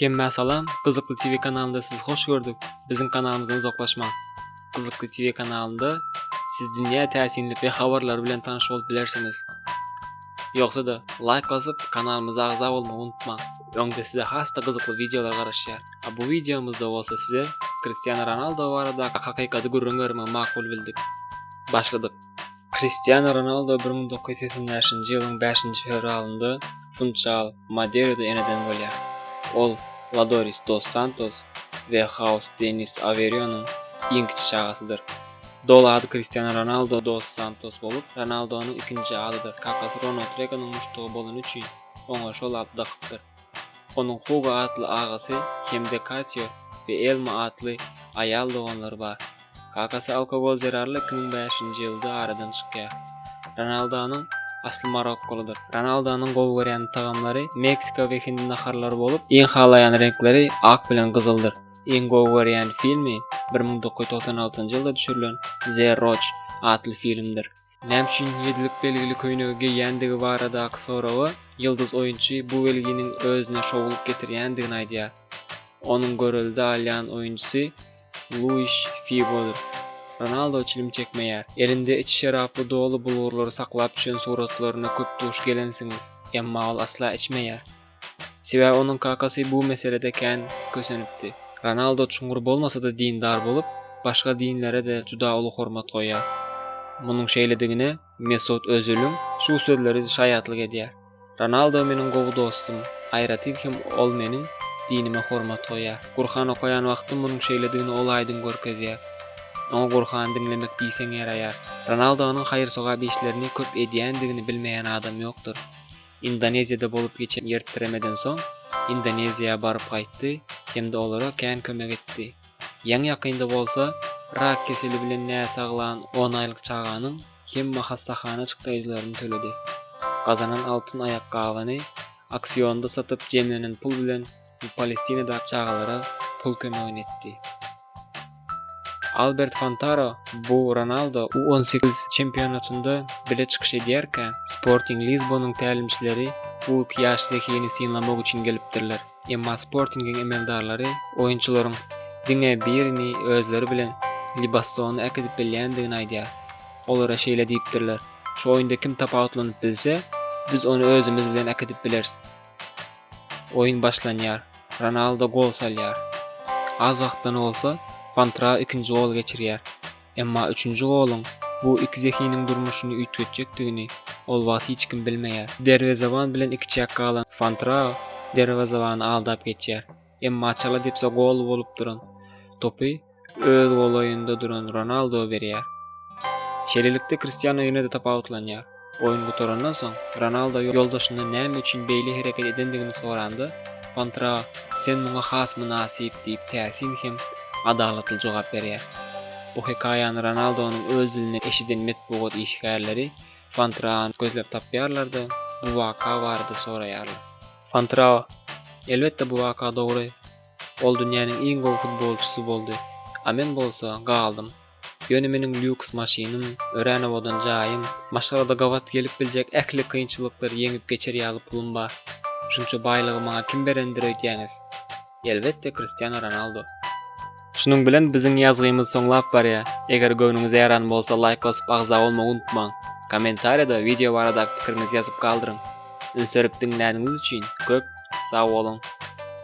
Hemmä salam Gyzykly TV kanalynda sizi hoş gördük biziň kanalymyzdan uzaklaşmaň Gyzykly TV kanalynda siz dünýä täsinli be habarlary bilen tanyş bolup bilersiňiz Ýogsada laýk basyp kanalymyza agza bolmagy unutmaň öňde size hasda gyzykly wideolar garaşýar a bu wideomyzda bolsa size Kristiano Ronaldo baradaky hakykaty gürrüň bermegi makul bildik Başladyk Kristiano Ronaldo bir müň dokuz ýüz segsen bäşinji ýylyň bäşinji fewralynda Funchal Madeirada eneden bolýar. Ol Ladoris dos Santos we Haus Denis Averýonyň iň kiçi çagasydyr. Doly ady Kristiano Ronaldo dos Santos bolup, Ronaldonyň ikinji adydyr. Kakasy Ronald Reganyň muşdagy bolany üçin, oňa şol ady dakypdyr. Onuň Hugo atly agasy hem-de Katýo we Elma atly aýal doganlary bar. Kakasy alkogol zerarly iki müň bäşinji ýylda aradan çykýar. Ronaldonyň asly marokkolydyr. Ronaldonyň gowy görýän tagamlary meksika we hindi naharlary bolup, iň halaýan reňkleri ak bilen gyzyldyr. Iň gowy görýän filmi bir müň dokuz ýüz togsan altynjy ýylda düşürilen The Roc atly filmdir. Näme üçin ýedilik belgili köýnegi geýýändigi baradaky soraga ýyldyz oýunçy bu belginiň özüne şowlyk getirýändigini aýdýar. Onuň görelde alýan oýunçysy Luis Figodyr. Ronaldo çilim çekmeýär. Elinde içi şeraply doly bulgurlary saklap düşen suratlaryna köp duş gelensiňiz, emma ol asla içmeýär. Sebäbi onuň kakasy bu meselede kän kösenipdi. Ronaldo çuňňur bolmasa-da dindar bolup, başga dinlere-de juda uly hormat goýýar. Munuň şeýledigine Mesut Öziliň şu sözleri şaýatlyk edýär, Ronaldo meniň gowy dostum, aýratyn hem ol meniň dinime hormat goýýar. Gurhan okaýan wagtym munuň şeýledigini ol aýdyň görkezýär. Oňa Gurhany diňlemek diýseň ýaraýar. Ronaldonyň haýyr-sogap işlerini köp edýändigini bilmeýän adam ýokdur. Indoneziýada bolup geçen ýertitremeden soň Indoneziýa baryp gaýtdy hem-de olara kän kömek etdi. Ýaňy-ýakynda bolsa rak keseli bilen näsaglan on aýlyk çaganyň hemma hassahana çykdaýjylaryny töledi. Gazanan altyn aýakgabyny auksionda satyp jemlenen pul bilen we Palestinadaky çagalara pul kömegini etdi. Albert Fantaro bu Ronaldo U-18 çempionatynda bile çykyş edýärkä, Sporting Lisbonyň tälimçileri bu iki ýaş zehini synlamak üçin gelipdirler. Emma Sportingiň emeldarlary oýunçylaryň diňe birini özleri bilen Libassona äkidip bilýändigini aýdýar. Olara şeýle diýipdirler, Şu oýunda kim tapawutlanyp bilse, biz ony özümiz bilen äkidip bileris. Oýun başlanýar. Ronaldo gol salýar. Az wagtdan bolsa Fantrao ikinji gol geçirýär. Emma üçünji goluň bu iki zehiniň durmuşyny üýtgetjekdigini ol wagt hiç kim bilmeýär. Derwezeban bilen ikiçäk galan Fantrao derwezebany aldap geçýär. Emma çala depse gol bolup duran topy öz golaýynda duran Ronaldo berýär. Şeýlelikde Kristiano ýene-de tapawutlanýar. Oýun gutarandan soň, Ronaldo ýoldaşyndan näme üçin beýle hereket edendigini soranda, Pantra, sen muňa has mynasyp diýip täsin hem adalatly jogap berýär. Bu hekaýany Ronaldonyň öz dilinden eşiden metbugat işgärleri Pantrany gözläp tapýarlar-da, bu waka barada soraýarlar. Pantrao, Elbetde bu waka dogry. Ol dünýäniň iň gowy futbolçysy boldy, a men bolsa galdym. Ýöne meniň lýuks maşynym, örän owadan jaýym, maşgalada gabat gelip biljek ähli kynçylyklary ýeňip geçer ýaly pulum bar. Şunça baýlygy maňa kim berendir öýdýäňiz? Elbetde Kristiano Ronaldo. Şunuň bilen biziň ýazgymyz soňlap barýar. Eger göwnüňize ýaran bolsa laýk basyp agza bolmagy unutmaň. Kommentariýada wideo baradaky pikiriňizi ýazyp galdyryň. Üns berip diňläniňiz üçin köp sag boluň.